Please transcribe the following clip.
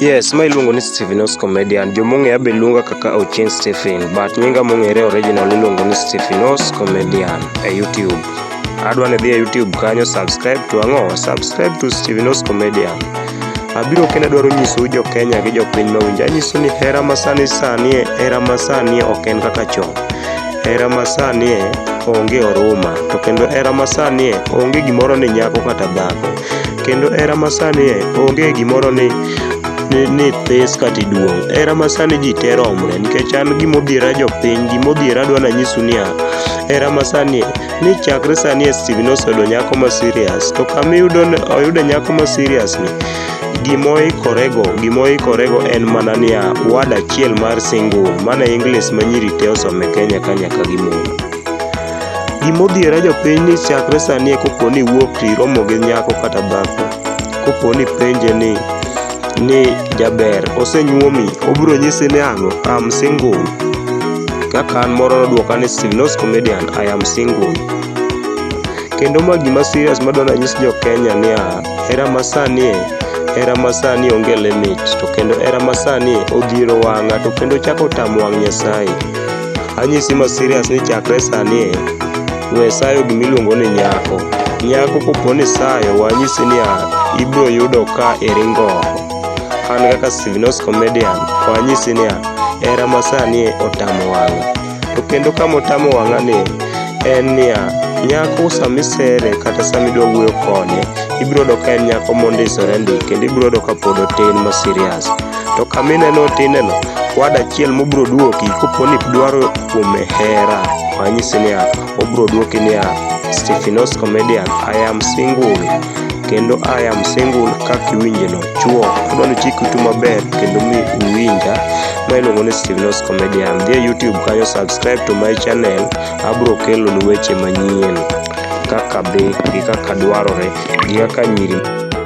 Yes, ma iluongo ni Stephen Os Comedian. Jomong'eya be luonga kaka Ochieng Stephen, but nyinga mong'ere original iluongo ni Stephen Os Comedian e YouTube. Adwa ni dhi e YouTube kanyo subscribe to ang'o? Subscribe to Stephen Os Comedian. Abiro kendo adwaro nyisou jo Kenya gi jo piny mawinjo. Anyiso ni hera masani sani e, hera masani e ok en kaka chon. Hera masani e onge oruma, to kendo hera masani e onge gimoro ni nyako kata dhako. kendo hera masani e onge gimoro ni ni, ni this kata iduong' hera masani ji te romre nikech an gimodhiera jopiny gimodhiera adwa nanyisu niya hera masani e ni chakre sani e Steven oseyudo nyako ma serious to kama iyudo ni- oyude nyako ma serious ni gimoikorego gimoikorego en mana niya wad achiel mar single mana english ma nyiri te osome kenya ka nyaka gimoro Gima odhiera jopiny ni chakre sani kopo ni iwuok to iromo gi nyako kata dhako, kopo ni ipenje ni ni jaber, osenyuomi, obiro nyisi ni ang'o, I'm single. Kaka an moro nodwoka ni Silnos Comedian, I am single. Kendo ma gima serious madwa nanyis jo Kenya niya, hera masani e, hera masani onge limit, to kendo hera masani e odhiero wang'a to kendo ochako otamo wang' Nyasaye. Anyisi ma serious ni chakre sani e, we sayo gima iluongo ni nyako. Nyako kopo ni sayo, wanyisi ni a, ibiro yudo ka iringo oko. An kaka Stevenos Comedian, wanyisi ni a, hera ma sani e otamo wang'a. To kendo kama otamo wang'a ni, en niya, nyako sama isere kata sama idwa wuoyo kode, ibiro yudo ka en nyako mondisore ndi, kendo ibiro yudo ka pod otin ma serious. to kama ineno tineno wad achiel mobiro duoki kopo ni dwaro kuome hera wanyisi niya obiro duoki niya Stephenos comedian I am single kendo I am single kaka iwinjeno chuo adwa ni chik itu maber kendo mi uwinja ma iluongo ni Stephenos comedian dhi e YouTube kanyo subscribe to my channel abiro kelonu weche manyien kaka dhi gi kaka dwarore gi kaka nyiri